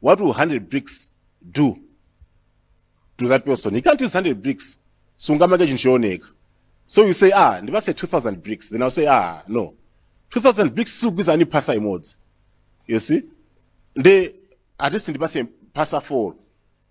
What will 100 bricks do to that person? He can't use 100 bricks. Sungamage chinthu chooneka. So you say, ah, ndipatse 2000 bricks. Then I'll say, ah, no. 2000 bricks sugwiza ni pasa imodzi. You see? Ndi at least ndipatse pasa 4.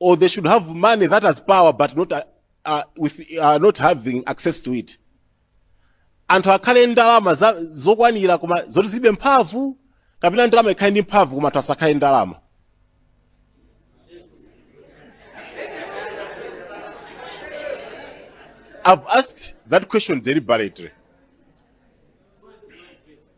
or they should have money that has power but not, uh, uh, with, uh, not having access to it anthu akhale ndalama za- zokwanira koma zoti zilibe mphamvu kapena ndalama ikhale ndi mphamvu koma anthu asakhale ndalama I've asked that question deliberately.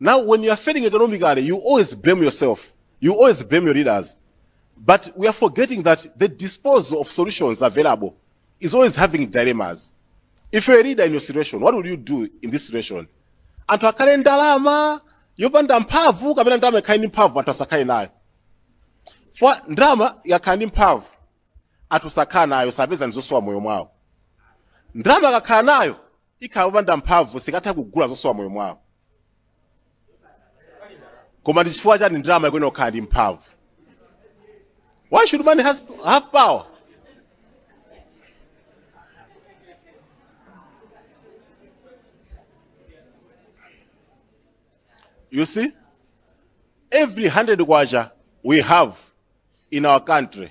Now when you are failing economically, you always blame yourself. You always blame your leaders. But we are forgetting that the disposal of solutions available is always having dilemmas. If you're a leader in your situation, what would you do in this situation? Anthu akhale ndalama yopanda mphamvu kapena ndalama ikhale ndi mphamvu anthu asakhale nayo. For ndalama yakhala ndi mphamvu anthu sakhala nayo sapeza ndizosowa moyo mwawo. Ndalama akakhala nayo ikhala yopanda mphamvu sikatha kugula zosowa moyo mwawo koma ndi chifukwa chani ndalama ikuyenera kukhala ndi mphamvu why should money has, have power you see every 100 kwacha we have in our country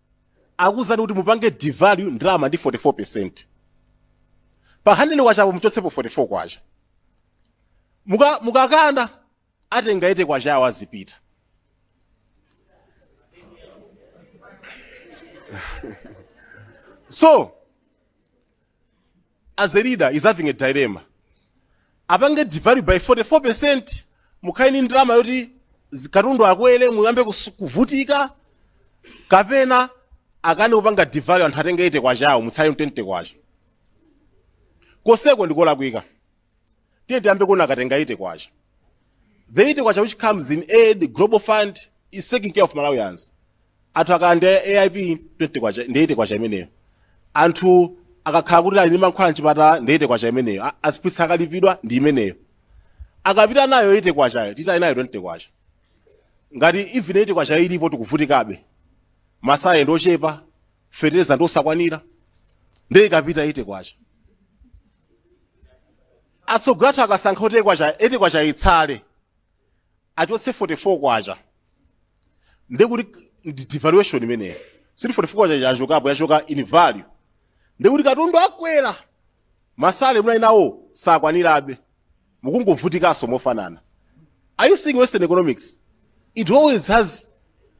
akuuzani kuti mupange devalue ndalama ndi 44 percent pa 100 kwachapo muchotsepo 44 kwacha Muka- mukakana atenga 80 kwachawo azipita so as a leader is having a dilemma apange devalue by 44% mukhale ndi ndalama yoti zi- katundu akwere muyambe kus- kuvutika kapena akane kupanga devalue anthu atenge 80 kwachawo mutsale 20 kwacha koseko ndikolakwika tiye tiyambe kuona akatenga 80 kwacha the 80 kwacha which comes in aid global fund is taking care of malawians anthu akhala ndi aip 20 kwacha ndi 80 kwacha imeneyo anthu akakhala kuti ali ndi mankhwala mchipatala ndi 80 kwacha imeneyo A- aziphunzitsi akalipidwa ndi imeneyo akapita nayo 80 kwachayo titani nayo 20 kwacha ngati even 80 kwacha ilipo tikuvutikabe masalale ndi ochepa fetereza ndi osakwanira ndiye ikapita 80 kwacha atsogoleri athu akasankha kuti 80 kwacha itsale achotse 44 kwacha ndiye kuti ndi devaluation imeneyo sikuti 44 kwacha yachokapo yachoka in value ndiye kuti katundu akwera masalale muli nawo sakwanirabe mukungovutikanso mofanana are you seeing western economics it always has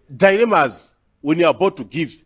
dilemmas when you are about to give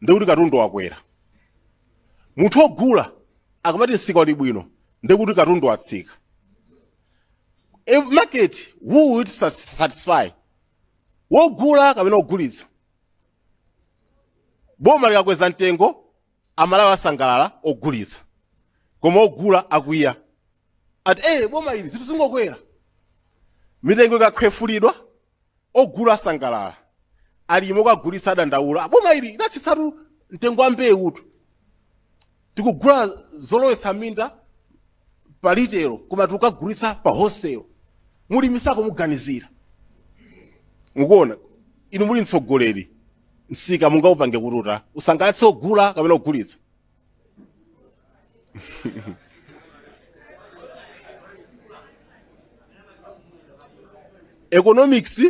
ndiye kuti katundu wakwera munthu ogula akamati msika uli bwino ndiye kuti katundu watsika a market who will sat- satisfy wogula kapena wogulitsa boma likakweza mtengo amalawi asangalala ogulitsa koma ogula akwiya ati eh boma ili zinthu zingokwera mitengo ikakhwefulidwa ogula asangalala alimi okagulitsa adandaula boma ili latsitsatu mtengo wa mbewutu tikugula zolowetsa minda pa litelo koma tikukagulitsa pa hoselo mulimi sakumuganizira mukuona inu muli mtsogoleri msika mungaupange kututa usangalatse ogula kapena ogulitsa economics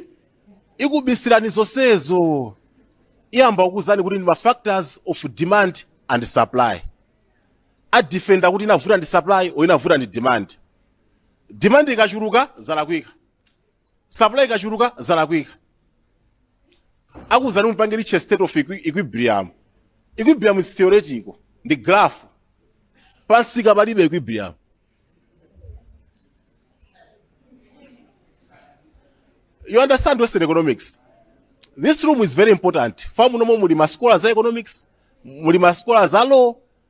ikubisirani zonsezo iyamba kukuuzani kuti ndi ma factors of demand and supply adifenda kuti inavuta ndi supply or inavuta ndi demand demand ikachuluka zalakwika supply ikachuluka zalakwika akuzani mpange litche state of equi- equilibrium equilibrium is theoretical ndi graph pansika palibe equilibrium you understand western economics this room is very important famu nomwe muli ma scholars za economics muli ma scholars za law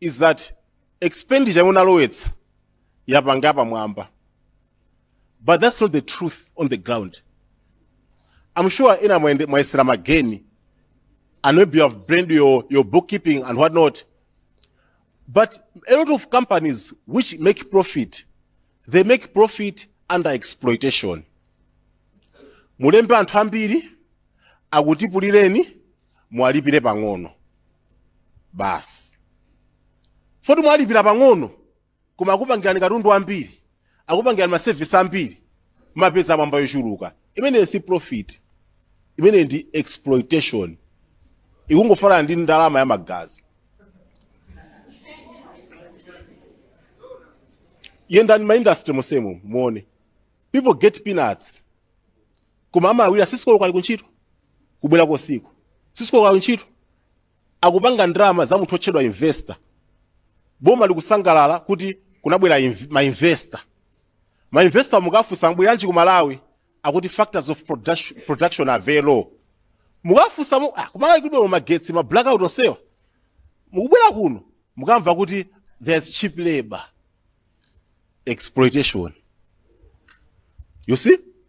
is that expenditure yomwe munalowetsa yapanga yapamwamba but that's not the truth on the ground i'm sure ena mwayende- mwayesera mageni and maybe you have blamed your, your bookkeeping and what not but a lot of companies which make profit they make profit under exploitation mulembe anthu ambiri akutipulireni muwalipire pang'ono basi poti mwalipira pang'ono koma akupangirani katundu wambiri akupangirani masevisi ambiri mwapeza yapamwamba yochuluka imeneyo si profit imeneyo ndi exploitation ikungofanana ndi ndalama ya magazi yendani maindastry monsemo muone people get peanuts koma amalawira six o'clock ali kuntchito kubwerako usiku six o'clock ali kuntchito akupanga ndalama za munthu otchedwa investor boma likusangalala kuti kunabwera inv- ma investor ma investor mukafunsa mubweranji ku malawi akuti factors of production, production are very low mukafunsa mu ah, kumalawi kulibe magetsi ma blackout onsewa mukubwera kuno mukamva kuti there's cheap labor exploitation you see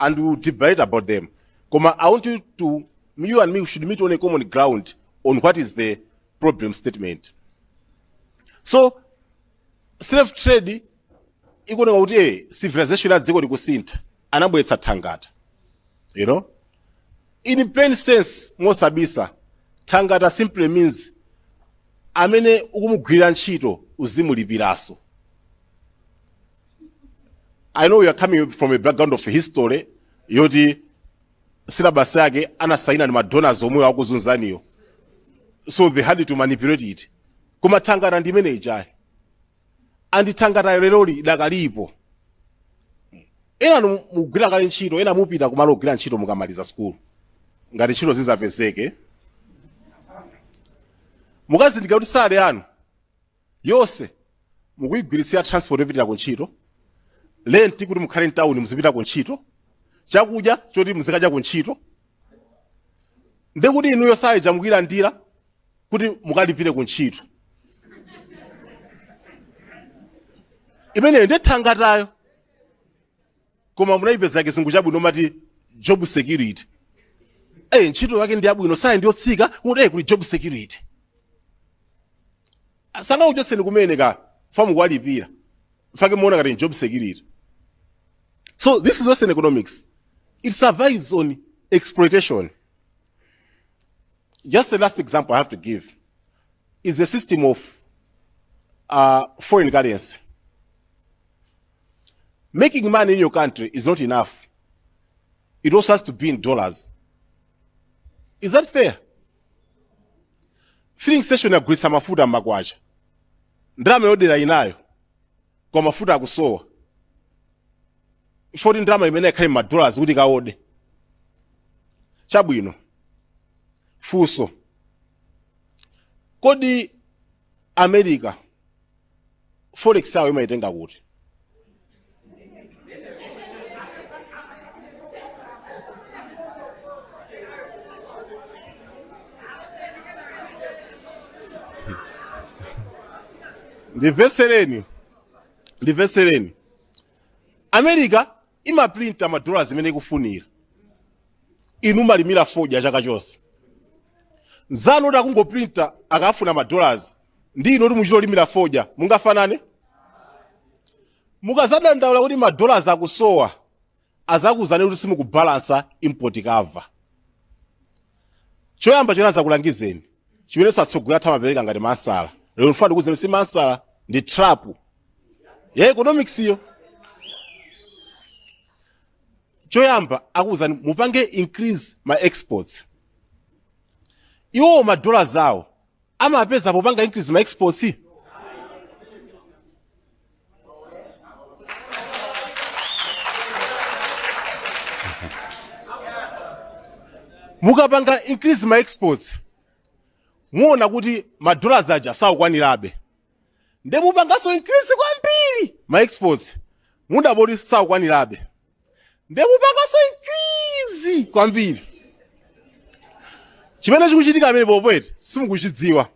and we will deliberate about them. Koma I want you to, you and me should meet on a common ground on what is the problem statement. So, slave trade ikuoneka kuti eh, civilization ya dziko likusintha anabweretsa thangata you know in plain sense mosabisa thangata simply means amene ukumugwirira ntchito uzimulipiraso I know you are coming from a background of history yoti syllabus yake anasaina ndi madonors omwe akuzunzaniyo so they had to manipulate it koma thangata ndi imene ijayi and thangata lero lidakalipo ena nu- mugwira kale ntchito ena mupita kumalo kogwira ntchito mukamaliza sukulu ngati ntchito zizapezeke mukazindikira kuti sale anu yonse mukuyigwiritsira transport yopitira ku ntchito lenti kuti mukhale mtawuni muzipita ku ntchito chakudya choti muzikadya ku ntchito ndi kuti inuyo sale ija mukuyilandira kuti mukalimire ku ntchito imeneyo ndi thangatayo koma munaipeza kizungu chabwino mmati job security eh ntchito yake ndi yabwino sale ndi yotsika kuti eh kuli job security sangakuchotseni kumene ka famu kwalipira nchifukwa chake muona ngati ni job security so this is western economics it survives on exploitation just the last example i have to give is the system of uh, foreign currency Making money in your country is not enough. It also has to be in dollars. Is that fair? Filling station yagulitsa mafuta m'makwacha. Ndalama yoodera inayo. Koma mafuta akusowa. Chifukwa choti ndalama imeneyo ikhale m'ma dollars kuti ikaode. Chabwino. Funso. Kodi america forex yawo imayitenga kuti ndimvetsereni ndimvetsereni america imaprinta ma dollars imene ikufunira inu mumalimira fodya chaka chonse nzanu oti akungoprinta akafuna ma dollars ndi inu oti muchita kulimira fodya mungafanane mukazadandaula kuti ma dollars akusowa azakuuzani kuti simukubalansa import cover choyamba chomwe azakulangizeni chimenenso atsogoleri athu amapereka ngati nzeru lero ndifuna ndikuuzeni si nzeru ndi trap ya economics yo choyamba akuuzani mupange increase ma exports iwowo madola zawo amapeza popanga increase ma exports mukapanga increase ma exports muona kuti ma dollars aja sakukwanirabe nde mupanganso increase kwambiri ma exports mudabwa kuti sakukwanirabe nde mupanganso increase kwambiri chimene chikuchitika pamenepo poti simukuchidziwa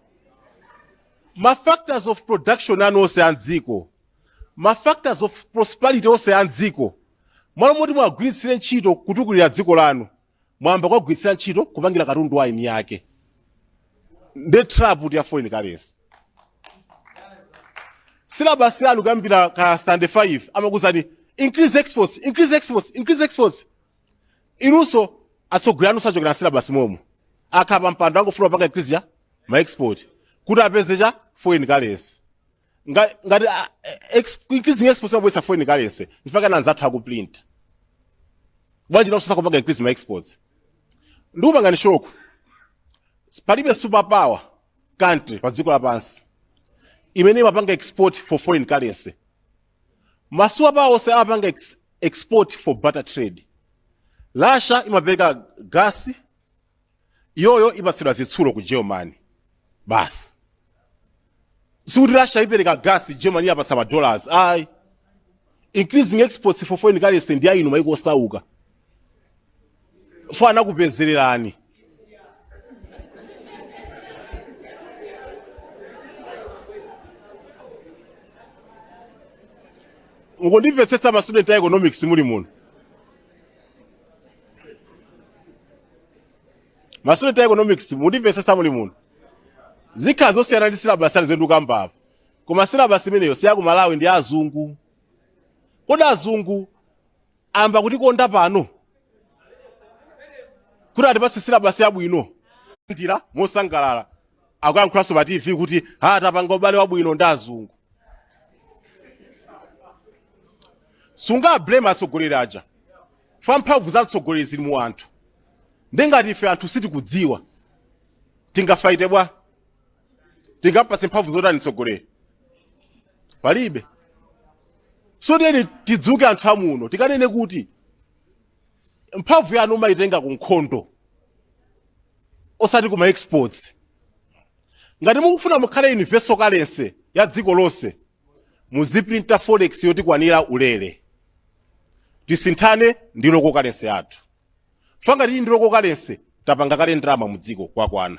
ma factors of production anu onse a mdziko ma factors of prosperity onse a mdziko mmalo moti mwagwiritsire ntchito kutukulira dziko lanu mwayamba kuwagwiritsira ntchito kupangira katundu wa eni yake ndiye trap ya foreign currency silabasi yanu kuyambira ku standard 5 amakuzani increase exports increase exports increase exports inunso atsogoleri anu achokera mu silabasi momo akakhala pa mpando angofuna kupanga increase ya ma export kuti apeze chani foreign currency Nga- ngati ah, eh, ex- increasing exports imabweretsa foreign currency if aka anzathu akuprinta bwanji nawonso sakupanga increase ma exports ndikupangani shoko palibe super power country pa dziko lapansi imene imapanga export for foreign currency ma super power onse amapanga ex, export for barter trade russia imapereka gasi iyoyo ipatsidwa zitsulo ku germany basi sikuti russia ipereka gas germany iyipatsa ma dollars ayi increasing exports for foreign currency ndi ya inu maiko osauka chifukwa anakupezererani mukundimvetsetsa ma student a economics muli muno ma student a economics mundimvetsetsa muli muno zikhala zosiyana ndi silabasi zimene ndikukamba apa koma silabasi imeneyo si yaku malawi ndi ya azungu kodi azungu ayamba kutikonda pano kuti atipatse silabasi yabwino ndiye mosangalala akuyankhulanso pa tv kuti a tapanga ubale wabwino ndi azungu sungawa blame atsogoleri aja chifukwa mphamvu za mtsogoleri zili mu anthu ndiye ngati ife anthu sitikudziwa tingafaite bwa tingampatse mphamvu zotani mtsogoleri palibe so tiyeni tidzuke anthu a muno tikanene kuti mphamvu yanu umayitenga ku nkhondo osati kuma exports ngati mukufuna mukhale universal currency ya dziko lonse muzitiprintira forex yotikwanira ulere tisinthane ndi local currency yathu chifukwa ngati tili ndi local currency tapanga kale ndalama mu dziko kwakwana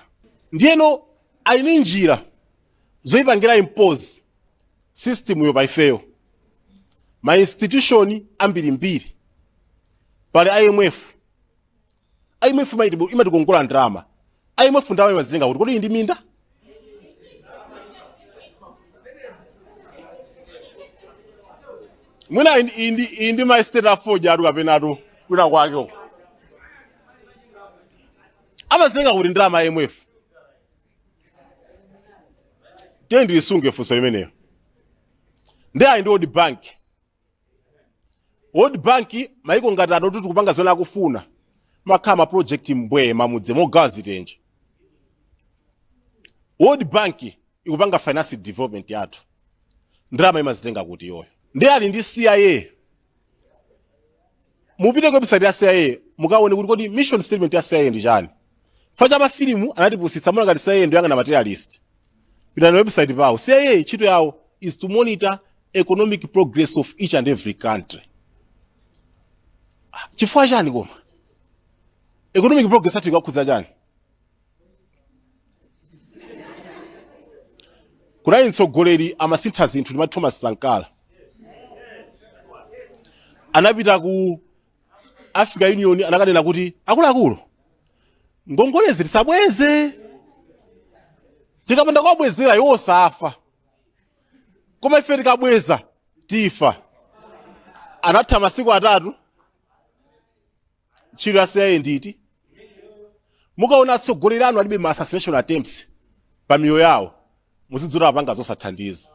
ndiyeno ali ndi njira zoyipangira impose system yo pa ifeyo ma institution ambirimbiri pali imf IMF imaiti- imatikongola ndalama IMF ndalama imazitenga kuti kodi ili ndi minda mwina ili ndi- ili ndi- ili ndi ma estate a fodya a tea kapena a tea kwina kwake uko amazitenga kuti ndalama ya IMF tiyeni tilisunge funso limenelo ndiye pali world bank world bank world bank maiko ngati ano kuti tikapanga zimene akufuna makhala ma project mbwee m'mamudzi mogawa zitenje world bank ikupanga finance development yathu ndalama imazitenga kuti iyoyo ndi ali ndi cia mupite ku website ya CIA mukaone kuti kodi mission statement ya CIA ndi chani chifukwa cha mafilimu anatipusitsa mumaona ngati CIA ndi yoyang'ana ma terrorist pitani pa website pawo CIA ntchito yawo is to monitor economic progress of each and every country Ah, chifukwa chani koma economic progress yathu ikukakhudza chani kunali mtsogoleri amasintha zinthu ndi thomas sankara anapita ku africa union anakanena kuti akuluakulu ngongolezi tisabweze tikapanda kuwabwezera iwo safa koma ife tikabweza tifa anatha masiku atatu ntchito ya cia ndi yoti mukaona atsogoleri anu alibe ma assassination attempts pa miyoyo yawo muzidziwa kuti apanga zosathandiza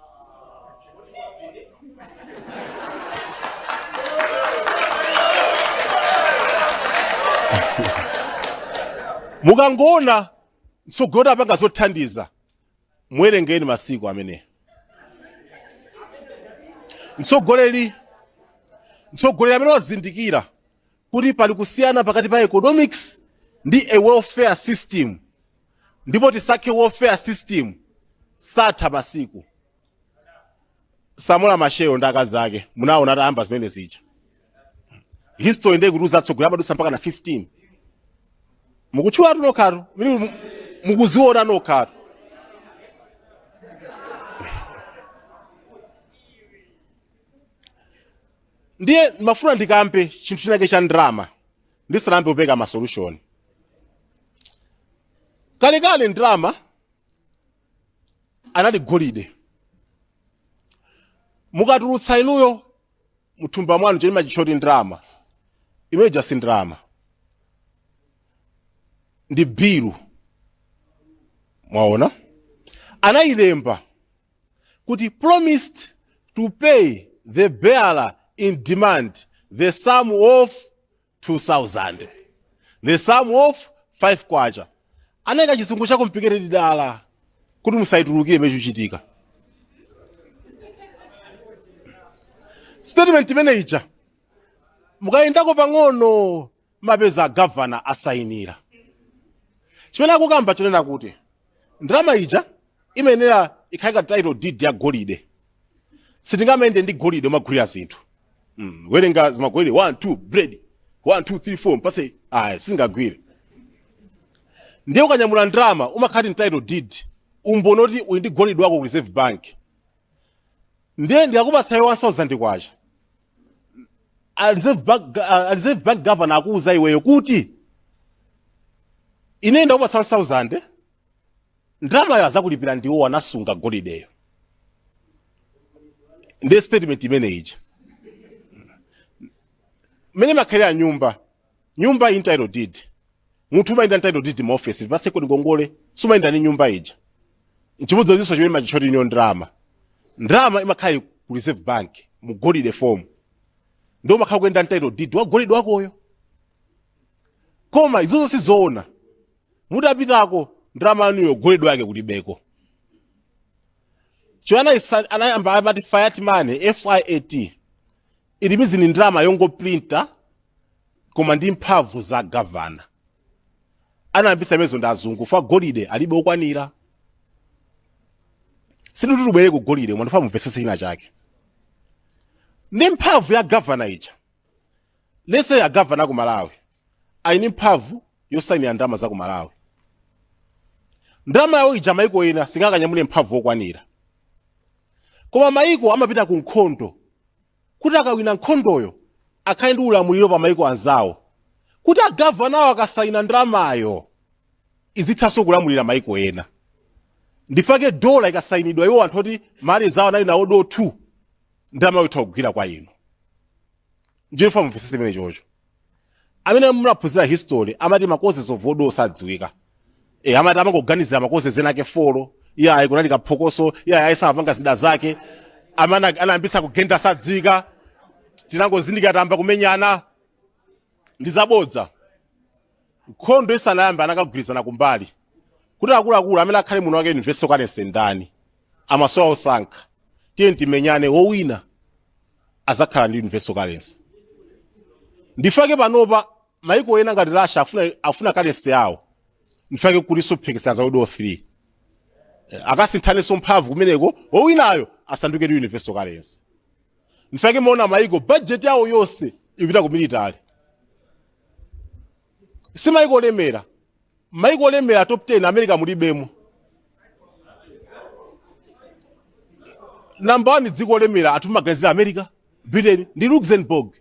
mukangoona mtsogoleri wati apanga zothandiza muwerengeni masiku amene mtsogoleri mtsogoleri amene wazindikira kuti pali kusiyana pakati pa economics ndi a welfare system ndipo tisake welfare system satha masiku samora machel ndi akazi ake munaona atayamba zimene zija history ndiye kuti atsogoleri amadutsa mpaka na 15 mukutchulatu nokhatu mili mu- mukuziona nokhatu ndiye ndimafuna ndikambe chinthu chinake cha ndrama ndisanayambe kupereka masolution kalekale ndrama anali golide mukatulutsa inuyo muthumba mwanu cholimba mukuchiti ndalama imene ija si ndalama ndi bilu mwaona anayilemba kuti promise to pay the bearer on demand the sum of 2000. The sum of 5 kwacha. Anayika chizungu cha complicated dala kuti musatulukire chimene chikuchitika. Statement imene ija mukayendako pang'ono mumapeza governor asayinira. Chimene akukamba chonena kuti ndalama ija imayenera ikhale ngati title deed ya golide sitingamayende ndi golide kumagulira zinthu mm. werenga zimagolide 1 2 bread 1 2 3 4 mpase ayi sizingagwire ndiye ukanyamula ndalama umakhala ndi title deed umboni oti uli ndi golide wako ku reserve bank ndiye ndikakupatsa iwe 1000 kwacha a reserve bank governor akuuza iweyo kuti ine ndakupatsa 1000 ndalamayo azakulipira ndiwo anasunga golideyo ndiye statement imene ija mmene imakhalira nyumba nyumba in title deed munthu umayenda title deed mu office ndipatseko ngongole sumayenda ni nyumba ija nchimodzimodzinso chimene mumachitcha kuti niyo ndalama ndalama imakhala ili ku reserve bank mu golide form ndiye umakhala ukuyenda ndi title deed wa golide wakoyo koma izozo sizoona mutapitako ndalama yanuyo golide wake kulibeko cho anayisa- anayamba amati fiat money fiat it means ni ndalama yongoprinta koma ndi mphamvu za gavana anayambisa imenezo ndi azungu fa golide alibe okwanira sindikuti tubwere ku golide koma ndifuna mumvetsese china chake ndi mphamvu ya gavana ija reserve gavana ku malawi ali ndi mphamvu yosainira ndalama za ku malawi ndalama yawo ija maiko ena singakanyamule mphamvu okwanira koma maiko amapita ku nkhondo kuti akawina nkhondoyo akhale ndi ulamuliro pa maiko anzawo kuti agavanawo akasayina ndalamayo izithanso kulamulira maiko ena ndifake dola ikasayinidwa iwo anthu oti ma allies awo anawina world war 2 ndalamayo itha kugwira kwa inu ndiye ndifuna mumvesese imene chocho amene munaphunzira history amati ma causes of world war sadziwika e, amati amangoganizira ma causes ena ake folo iye ayi kunali kaphokoso iye ayi samapanga zida zake amene anayambitsa kugenda sadziwika tinangozindikira tayamba kumenyana ndi zabodza nkhondo isanayamba anakagwirizana kumbali kuti akuluakulu amene akhale mwini wake universal currency ndani amasowa osankha tiye timenyane wowina azakhala ndi universal currency ndifake panopa maiko ena ngati russia afuna currency yawo ndifake kulinso mphekesera za world war 3 Eh, akasinthanenso mphamvu kumeneko wowinayo asanduke ndi universal currency ndifake mumaona maiko budget yawo yonse ikupita ku military si maiko olemera maiko olemera top 10 america mulibemo number 1 dziko olemera anthu mumaganizira america britain ndi luxembourg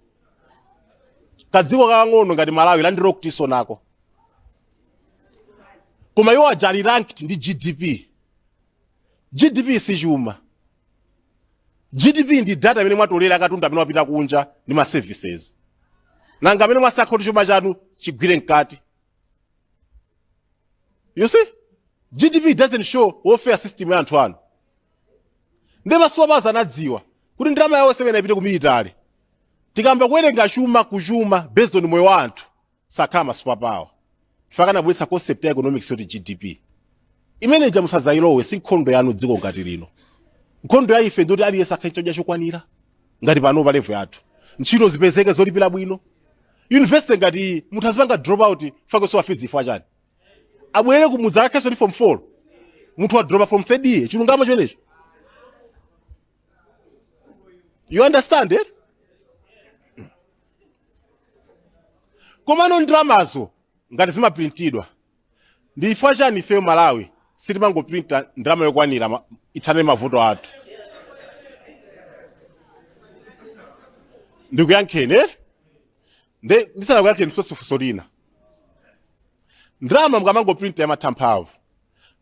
kadziko kakang'ono ngati malawi landlocked-nso nako koma iwo aja ali ranked ndi gdp gdp si chuma gdp ndi data imene mwatolera ya katundu amene wapita kunja ndi ma services nanga amene mwasakha kuti chuma chanu chigwire mkati you see gdp doesn't show welfare system ya anthu anu ndi ma superpowers anadziwa kuti ndalama yawo zimene ipite ku military tikayamba kuwerenga chuma chuma based on moyo wa anthu sakhala ma superpower chifukwa chake anabweretsa concept ya economics yoti gdp imene ija musazayilowe si nkhondo yanu dziko ngati lino nkhondo ya ife ndoti aliyense akhale ndi chakudya chokwanira ngati pano pa level yathu ntchito zipezeke zolipira bwino university ngati iyi munthu azipanga drop out chifukwa chosowa fees chifukwa chani abwere kumudzi akhalenso ndi form 4 munthu wa drop from 3rd year chilungamo chenicheni you understand it komanso ndalamazo ngati zimaprintidwa ndi chifukwa chani ifeyo malawi sitimangoprinta ndalama zokwanira ma- ithane mavuto athu ndikuyankheni eh? nde ndisanakuyankheni funso lina ndalama mukamangoprinta imatha mphamvu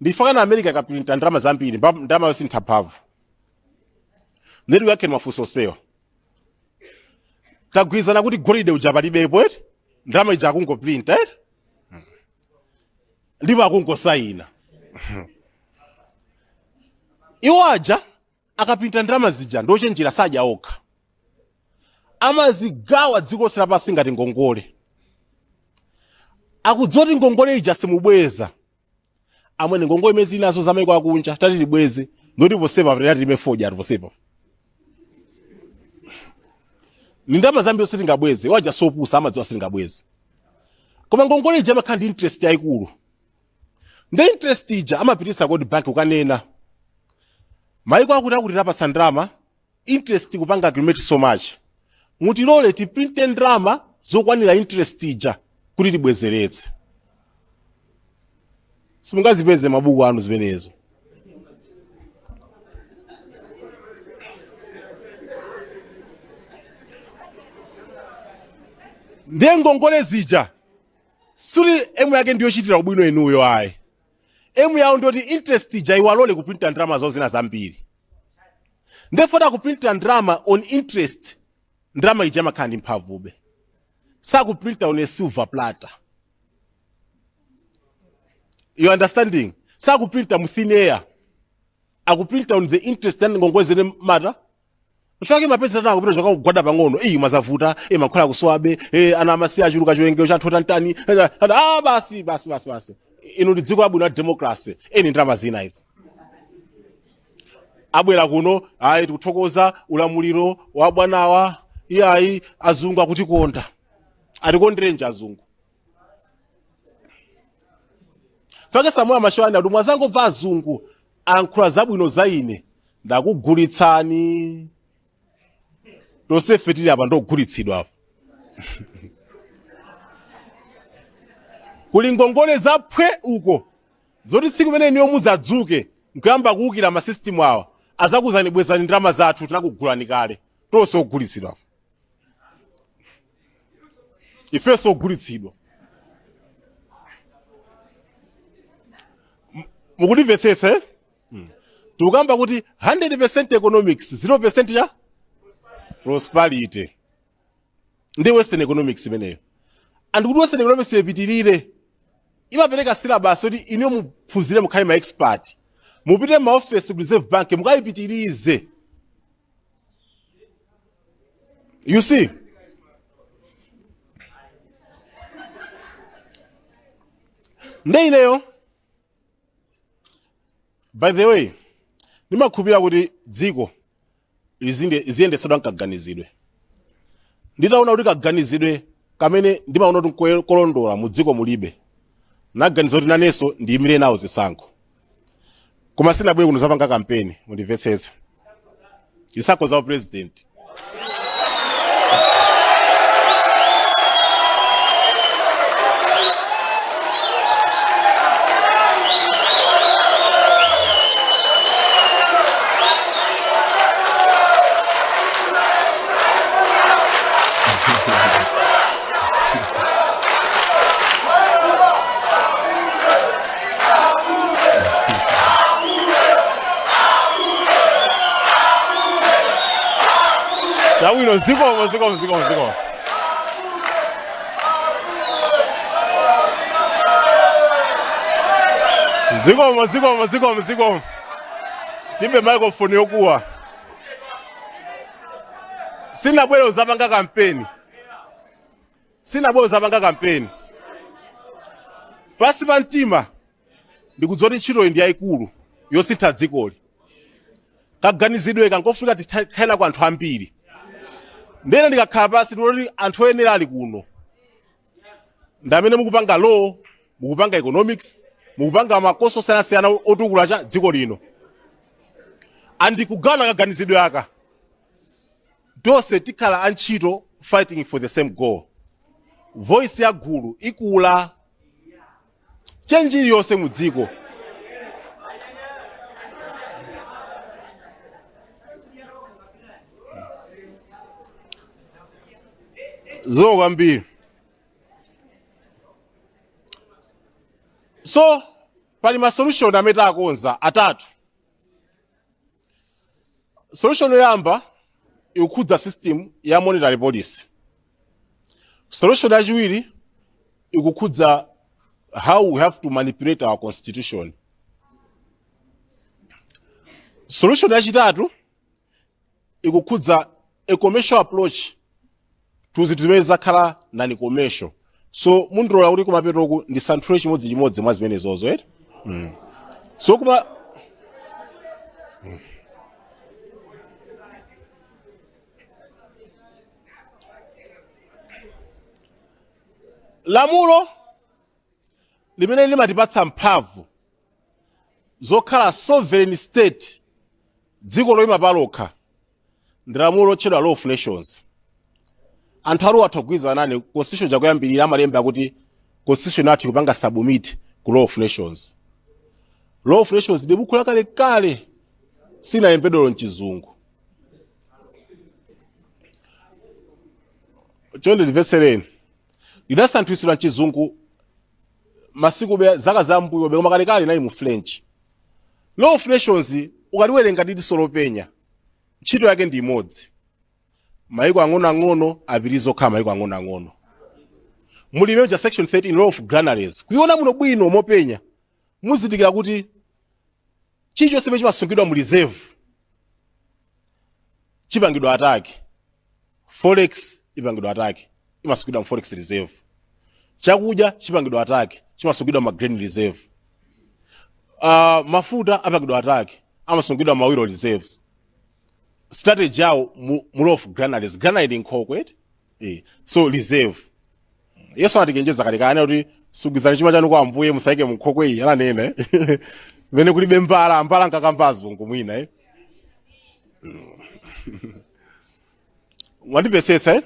ndi chifukwa chani america ikaprinta ndalama zambiri mba- ndalama yawo siitha mphamvu nde tiyankhe mafunso onsewa tagwirizana kuti golide uja palibepo eti ndalama ija akungoprinta eti ndipo akungosayina iwo aja akaprinta ndalama zija ndochenjera sadya okha amazigawa dziko lonse lapansi ngati ngongole akudziwa kuti ngongole ija simubweza amwene ngongole imene tili nazo za maiko akunja tati tibweze ndoti posepa tati tilime fodya ati posepa ni ndalama zambiri sitingabweze iwo aja si opusa amadziwa sitingabweze koma ngongole ija imakhala ndi interest yayikulu nde interest ija amapititsa ku world bank kukanena maiko akuti akuti tawapatsa ndalama interest kupanga accumulate so much mutilole tiprinte ndalama zokwanira interest ija kuti tibwezeretse simungazipeze m'mabuku anu zimenezo ndiye ngongole zija sikuti aim yake ndiyokuchitirani ubwino inuyo ayi aim yawo ndi yoti interest ija iwalole kuprinta ndalama zawo zina zambiri nde poti akuprinta ndalama on interest ndalama ija imakhala ndi mphamvube sakuprinta on a silver platter you understanding sakuprinta mu thin air akuprinta on the interest ya ngongole zimene mwata nchifukwa chake mapeza atsogoleri akupita kukagwada pang'ono ayi madzi avuta e mankhwala akusowabe e ana amasiya achuluka chiwerengero cha anthu otantani ah basi basi basi basi ino ndi dziko labwino la democracy eni ndalama zina izi abwera kuno ayi tikuthokoza ulamuliro wa bwanawa iyayi azungu akutikonda atikonderanji azungu fuke Samora Machel anati mukadzangomva azungu akuyankhula zabwino za ine ndakugulitsani tonsefe tili apa ndiogulitsidwa apa kuli ngongole za phwe uko zoti tsiku limene inuyo muzadzuke nkuyamba kuwukira ma system awa azakuuzani bwezani ndalama zathu tinakugulani kale tonse ogulitsidwa apa ifenso ogulitsidwa M- mukundimvetsetsa eh? Mm. tikukamba kuti 100 percent economics 0 percent ya prosperity ndi western economics imeneyo and kuti western economics ipitirire imapereka syllabus yoti inuyo muphunzire mukhale ma expert mupite m'maofesi ku reserve bank mukayipitirize You see? nde ineyo by the way ndimakhulupirira kuti dziko liziyendetsedwa nkaganizidwe nditaona kuti kaganizidwe kamene ndimaona kuti nkolondola mu dziko mulibe naganiza kuti nanenso ndiyimire nawo zisankho koma sinabwere kuno kuzapanga kampeni mundimvetsetse zisankho za upresident Chabwino zikomo zikomo zikomo zikomo. Zikomo zikomo zikomo zikomo. Tilibe microphone yokuwa. sinabwere uzapanga kampeni sinabwere kuzapanga kampeni pansi pa mtima ndikudziwa kuti ntchitoyi ndi yayikulu yosintha dzikoli kaganizidwe kangofunika tikhale na kwa anthu ambiri ndene ndikakhala pansi ndikuona kuti anthu oyenera ali kuno ndamene mukupanga law mukupanga economics mukupanga makoso osiyanasiyana otukula cha dziko lino and tikagawana kaganizidwe aka tonse tikhala antchito fighting for the same goal voice ya gulu ikula change iliyonse mu dziko zikomo kwambiri so pali ma solution amene takonza atatu solution yoyamba ikukhudza system ya monetary policy solution yachiwiri ikukhudza how we have to manipulate our constitution solution yachitatu ikukhudza a commercial approach to zinthu zimene zakhala non commercial so mundilola kuti kumapetoku ndisanthule chimodzi chimodzi mwa zimenezozo eti mm. so kuma lamulo limene limatipatsa mphamvu zokhala sovereign state dziko loyima palokha ndi lamulo lotchedwa law of nations anthu a law atha kugwirizana nane constitution chakuyambirira amalemba kuti constitution yathu ikupanga submit ku law of nations law of nations ndi buku lakalekale silinalembedweko mchizungu chonde ndimvetsereni lidasinthitsidwa mchizungu masiku be zaka za mbuyo be koma kalekale linali mu french law of nations ukaliwerenga ndi diso lopenya ntchito yake ndi imodzi mayiko ang'onoang'ono apitirize kukhala mayiko ang'onoang'ono muli muja section 13 law of granaries kuiona muno bwino mopenya muzindikira kuti chilichonse chimene chimasungidwa mu reserve chipangidwa attack forex ipangidwa attack imasungidwa mu forex reserve chakudya chipangidwa attack chimasungidwa ma grain reserve uh, mafuta apangidwa attack amasungidwa ma oil reserves strategy yawo mu, mu law of granaries granary ndi nkhokwe eti Eh, so reserve yesu anatichenjeza kale kale kuti sungizani chuma chanu kwa ambuye musaike munkhokwe iyi ananena eh. pamene kulibe mbala mbala ankakamba azungu mwina eh. mwandimvetsetsa eh?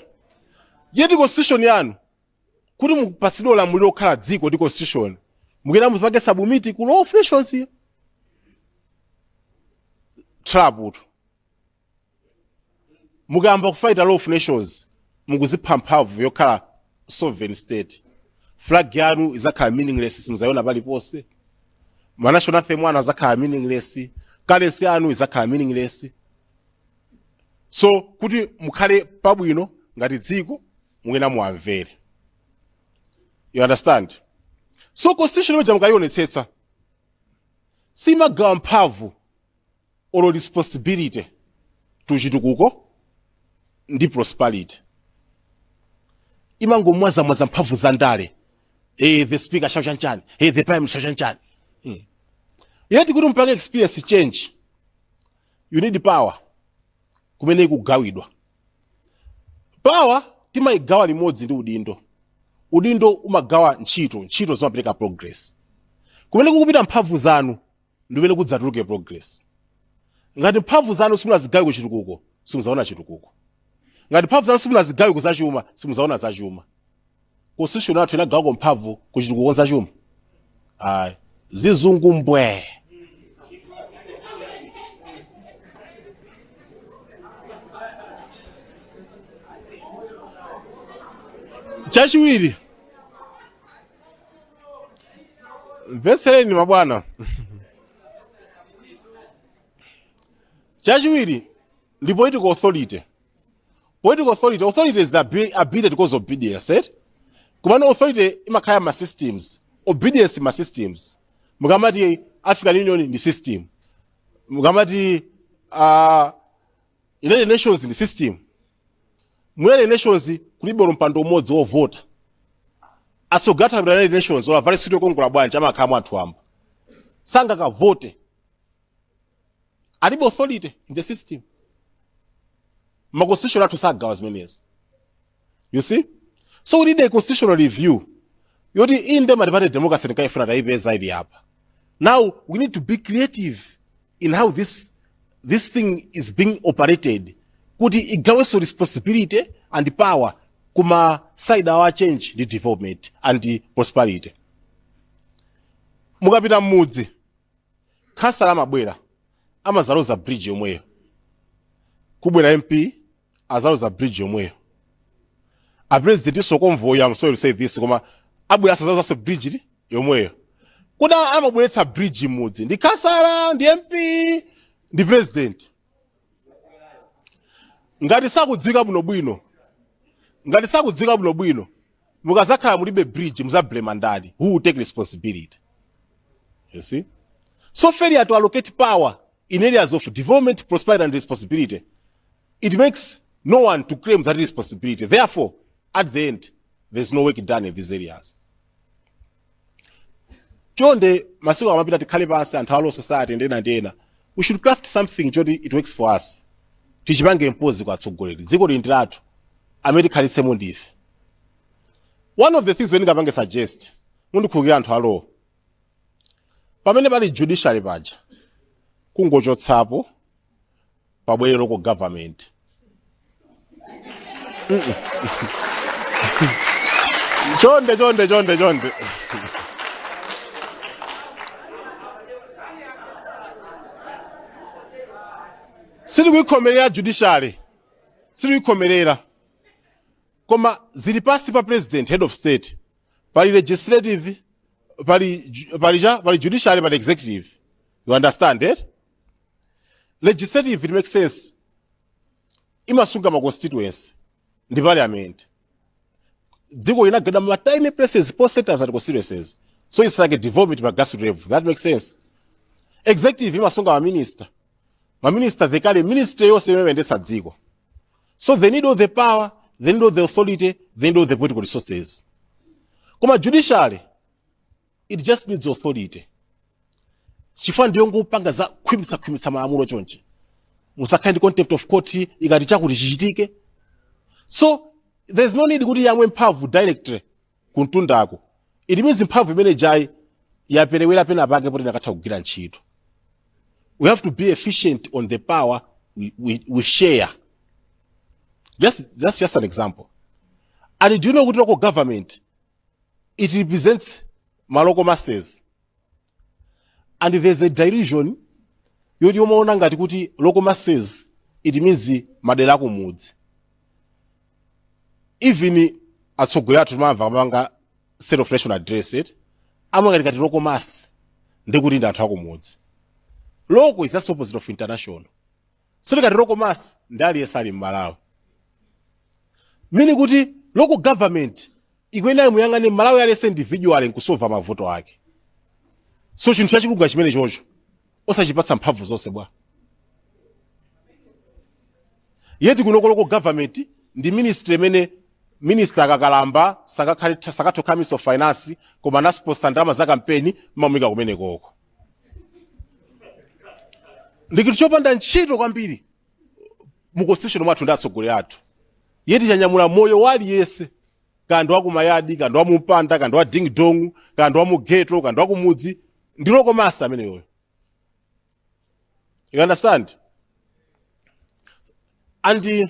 yet constitution yanu kuti mupatsidwe ulamuliro okhala dziko ndi constitution mukuyenera muzipanga submit ku law of nations trap utu mukayamba kufight law of nations mukuzipha mphamvu yokhala sovereign state flag yanu izakhala meaningless simuzayiona paliponse ma national anthem anu azakhala meaningless currency yanu izakhala meaningless so kuti mukhale pabwino ngati dziko mukuyenera muwamvere you understand so constitution imene ija mukayionetsetsa simagawa mphamvu or responsibility to chitukuko ndi prosperity imangomwazamwaza mphamvu za ndale eh the speaker shall chanichani eh the prime minister shall chanichani hmm. yet kuti mupange experience change you need power kumene ikugawidwa power timayigawa limodzi ndi udindo udindo umagawa ntchito ntchito zimapereka progress kumene kukupita mphamvu zanu ndi kumene kudzatuluke progress. Ngati mphamvu zanu simunazigawe ku chitukuko, simuzaona chitukuko. Ngati mphamvu zanu simunazigawe ku zachuma, simuzaona zachuma. Constitution yathu inagawako mphamvu ku chitukuko ku zachuma. Ayi, zizungu mbwe. Chachiwiri, mvetsereni mabwana chachiwiri ndi political authority political authority authority is the abi- ability to cause obedience right? komano authority imakhala ma systems obedience ma systems mukamati african union ndi system mukamati uh, united nations ndi system mu united nations kulibe olo mpando umodzi wovota atsogoleri akapita united nations olo avale suit yokongola bwanji amakhala mwa anthu wamba sangakavote alibe authority in the system makonstitution athu sagawa zimenezo you see so we need a constitutional review yoti inde multiparty democracy tinkayifuna tayipeza ili apa now we need to be creative in how this this thing is being operated kuti igawenso responsibility and power kuma side awa a change ndi development and prosperity mukapita mmudzi khansala amabwera amazaloza bridge yomweyo kubwera mp azaloza bridge yomweyo a president so convoy am sorry to say this koma abwera azalozaso bridge yomweyo kuda amabweretsa bridge mmudzi ndi khansala ndi mp ndi president ngati sakudziwika bwinobwino mukazakhala mulibe bridge muzablema ndani who will take responsibility you see so failure to allocate power in areas of development prosperity and responsibility It makes no one to claim that responsibility. Therefore, at the end, there's no work done in these areas. Chonde, masiku amapita tikhale pansi anthu a law society ndi ena ndi ena. We should craft something choti it works for us. Tichipange impozi kwa atsogoleri. Dziko lino ndi lathu amene tikhalitsemo ndife. One of the things ningapange suggest, mundikhulukira anthu a law. Pamene pali judiciary paja, kungochotsapo pabwere local government Mm-mm. chonde chonde chonde chonde sikuikhomerera judiciary sikuikhomerera koma zili pasi pa president head of state pali legislative pali ju- pali cha pali judiciary pali executive you understand it legislative it makes sense imasunga ma constituency ndi parliament dziko linagenda ma tiny places post centers and constituencies so it's like a development by grassroots level that makes sense executive imasunga ma minister ma minister they carry ministry yonse imene imayendetsa dziko so they need all the power they need all the authority they need all the political resources koma judiciary it just needs authority chifukwa ndiyongopanga za khwimitsa khwimitsa malamulo chonchi musakhale ndi contempt of court ikati chakuti chichitike so there's no need kuti yamwe mphamvu directly kumtundako it means mphamvu imene ija yaperewera pena pake poti akanatha kugwira ntchito we have to be efficient on the power we, we, we share just, that's just an example and do you know kuti local government it represents ma local masses and there's a delusion yoti timaona ngati kuti local masses it means madera akumudzi even atsogoleri athu timamva akamapanga state of nation address eti amangoti ngati local mass nde kuti ndi anthu akumudzi local is just opposite of international so ngati local mass ndi aliyense ali mmalawi meaning kuti local government ikuyenera imuyang'ane mmalawi aliyense individual nkusolva mavuto ake so chinthu chachikulu chimenecho osachipatsa mphamvu zonse bwa yet kunoko local government ndi ministry imene minister akakalamba sangathe kukhala minister of finance koma anasponsa ndalama za kampeni mmamuika kumenekoko ndi chinthu chopanda ntchito kwambiri mu constitution mwathu ndi atsogoleri athu yeti chanyamula moyo wa aliyense kandi wakumayadi kandi wamumpanda kandi wa ding dong kandi wamugeto kandi wakumudzi ndi local mass ameneyoyo you understand and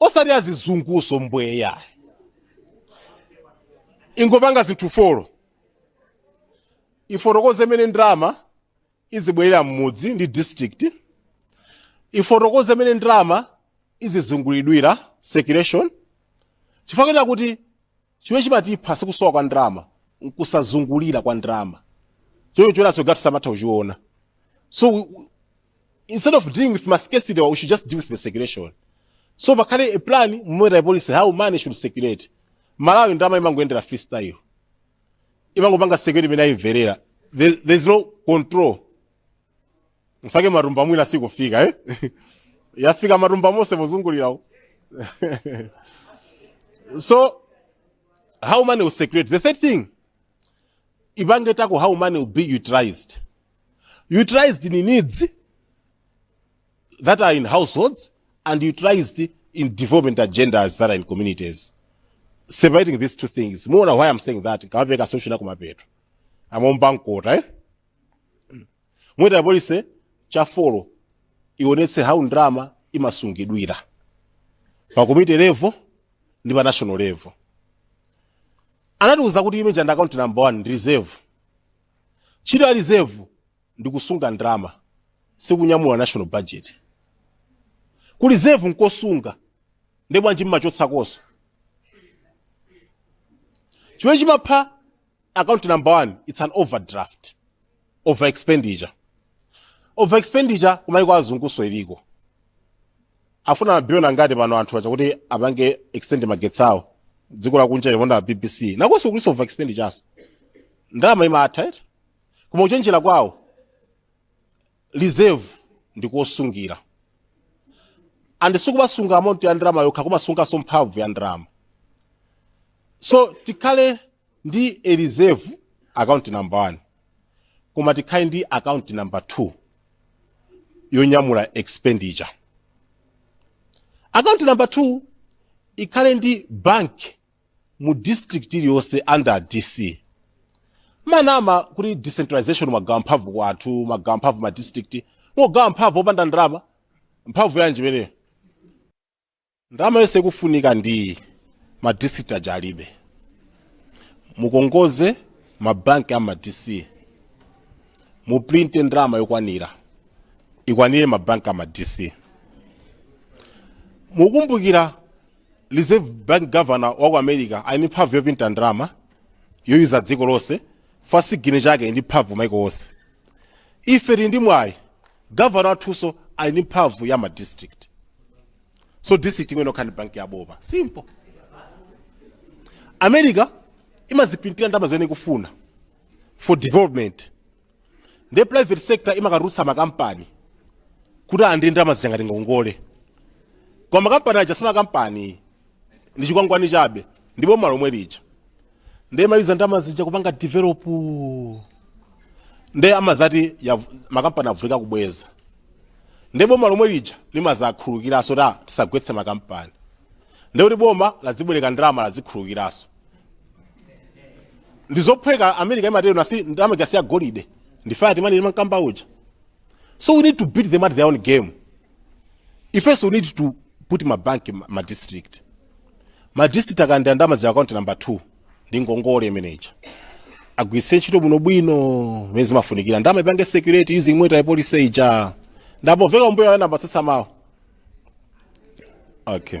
osati zazizunguso mbwee yayi ingopanga zinthu folo ifotokoze mmene ndalama izibwerera m'mudzi ndi district ifotokoze mmene ndalama izizungulidwira circulation chifukwa kuti Chimene chimatipha si kusowa kwa ndalama, n'kusazungulira kwa ndalama. Choonaso kwathu samatha kuchiona. So instead of dealing with mascarcity, we should just deal with the circulation. So pakhale a plan, monetary policy, how money should circulate. Malawi ndalama imangoyendera freestyle. Imangopanga circulate mmene yaimverera. There's no control. mfake matumba mwina sikufika eh? yafika matumba mose pozungulirawo so how money will circulate the third thing ipange tako how money will be utilized utilized in needs that are in households and utilized in development agendas that are in communities separating these two things muona why i'm saying that kamapeka solution akumapeto amomba mkota eh? monetary policy ya folo ionetse how ndalama imasungidwira pa community level ndi pa national level anatiuza kuti you mentioned account number one ndi reserve ntchito ya reserve ndi kusunga ndalama sikunyamula national budget ku reserve nkosunga nde bwanji mmachotsakoso chimene chimapha account number one it's an overdraft over expenditure over expenditure kumaiko azunguso iliko afuna mabillion angati pano anthu aja kuti apange extend magetsi awo dziko lakunja limonda bbc nakoso kuliso over expenditure aso ndalama imatha eti koma kuchenjera kwawo reserve ndi kosungira and sikumasunga amount ya ndalama yokha kumasunganso mphamvu ya ndalama so tikhale ndi a reserve account number 1 koma tikhale ndi account number 2 yonyamula expenditure account number 2 ikhale ndi bank mu district iliyonse under dc mmanama kuti decentralization mmagawa mphamvu kwa anthu mmagawa mphamvu ma district mogawa mphamvu opanda ndalama mphamvu yanji imeneyo Ndalama yonse ikufunika ndi ma district aja alibe. Mungongoze ma bank a ma DC, muprinte ndalama yokwanira ikwanire ma bank a ma DC. Mukumbukira Reserve Bank Governor wa ku America ali ndi mphamvu yoprinta ndalama yoyuza dziko lonse, pa signature yake ndi mphamvu maiko onse. Ife tili ndi mwayi Governor wathuso ali ndi mphamvu ya ma district. So district imwe nokha ndi banki ya boma. Simple. America imazipulintira ndalama zimene ikufuna for development. Nde private sector imakarutsa makampani kuti alandire ndalama zija ngati ngongole. Koma makampani aja si makampani ndi chikwangwani chabe ndi boma lomwe lija ndiye amayuza ndalama zija kupanga develop ndiye amadzati ya- makampani avutika kubweza ndiye boma lomwe lija limadzakhululukiranso kuti tisagwetse makampani ndiye kuti boma ladzibwereka ndalama ladzikhululukiranso ndizophweka america imatero basi ndalama ikasiya golide ndi fiat money ndimankamba uja so we need to beat them at their own game ifenso we need to put ma bank ma- ma district ma district akalandira ndalama za account number 2 ndi ngongole imene ija agwiritse ntchito bwinobwino mmene zimafunikira ndalama ipange circulate using monetary policy ija ndapomveka kumbuyo ana ambatsatsa mawu okay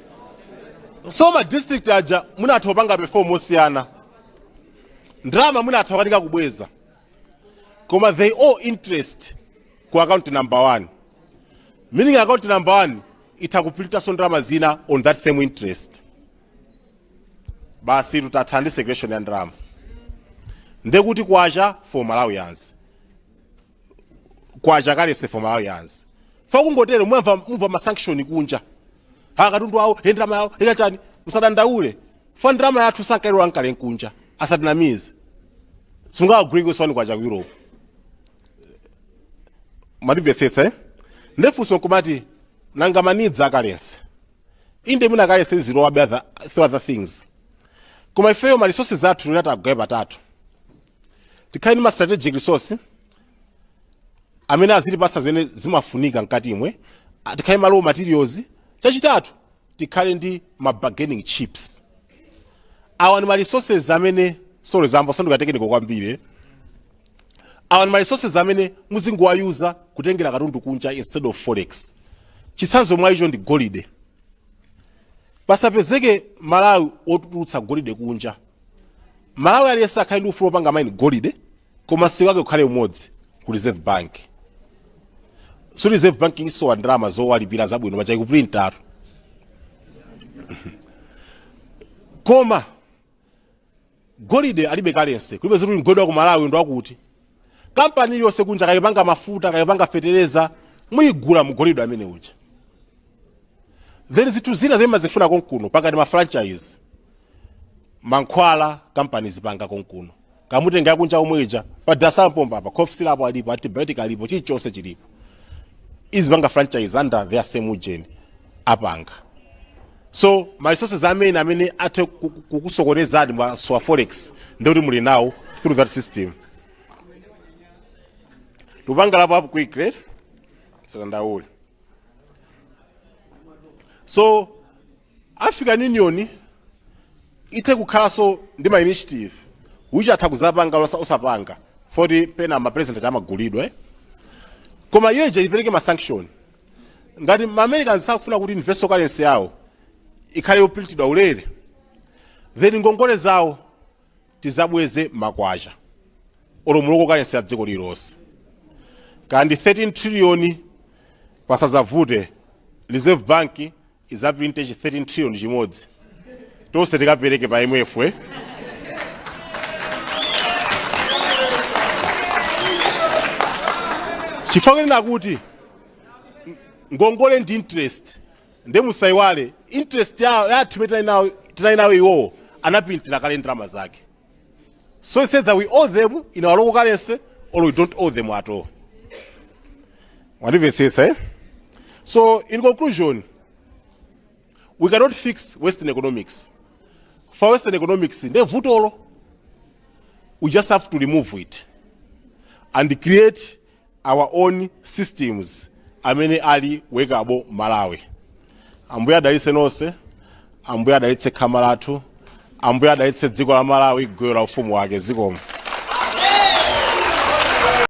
so ma district aja mwina atha kupanga perform mosiyana ndalama mwina atha kukanika kubweza koma they owe interest ku account number one meaning account number one itha kupulintanso ndalama zina on that same interest basi tutatha ndi circulation ya ndalama ndekuti kwacha for malawians kwacha currency for malawians fa kungotero mwamva mumva masanction kunja ha katundu awo he ndalama yawo he kaya chani musadandaule fa ndalama yathu sankailola nkale kunja asatinamize simungawagwiri kusoni kwacha ku europe mwandimvetsetsa eh? nde funso kumati nanga ma needs a currency inde mwina currency zilowabe other, few other things koma ifeyo ma resources athu titawagawa patatu tikhale ndi ma strategic resource amene azitipatsa zimene zimafunika mkati imwe Ah, tikhale ndi ma raw materials chachitatu tikhale ndi ma bargaining chips awa ndi ma resources amene sorry zayamba kusanduka technical kwambiri eh. awa ndi ma resources amene muzingowayuza kutengera katundu kunja instead of forex chitsanzo mwa icho ndi golide pasapezeke mmalawi otulutsa golide kunja mmalawi aliyense akhale ndi ufulu opanga maini golide koma msika wake ukhale umodzi ku reserve bank so reserve bank siisowa ndalama zowalipira zabwino paja ikupulintatu koma golide alibe currency kulibe zoti golide wa ku malawi ndi wakuti kampani iliyonse kunja kaya ipanga mafuta kaya ipanga fetereza muyigula mugolide amene uja then zinthu zina zimene timazifuna konkuno pakati ma franchise mankhwala companies zipanga konkuno kumatenga akunja omweja pa dasala pomba apa cough syrup alipo antibiotic alipo chilichonse chilipo izipanga franchise under their same ujeni apanga so ma resources amene amene athe ku- ku- kukusokonezani mwa za forex ndikuti muli nawo through that system tupanga apo apo quick right silandauli so african union ithe kukhalanso ndi ma initiative which atha kuzapanga osa- osapanga poti pena ma president amagulidwa eh? koma iyo ija ipereke ma sanction ngati ma americans sakufuna kuti universal currency yawo ikhale yoprintidwa ulere then ngongole zawo tizabweze ma kwacha olo mu local currency ya dziko lililonse kaya ndi 13 trillion pasazavute reserve bank izaprinte chi 13 trillion chimodzi tonse tikapereke pa imf eh? chifukwa kunena kuti ngongole ndi interest nde musaiwale interest ya ya athu imene tinali nawo- tinali nayo iwowo anapintira kale ndalama zake so he said that we owe them in our local currency or we don't owe them at all mwandimvetsetsa eh? so in conclusion we cannot fix western economics for western economics nde vutolo we just have to remove it and create our own systems amene ali workable Malawi. Ambuye adalitse nonse, Ambuye adalitse khama lathu, Ambuye adalitse dziko la Malawi, gwero la ufumu wake zikomo.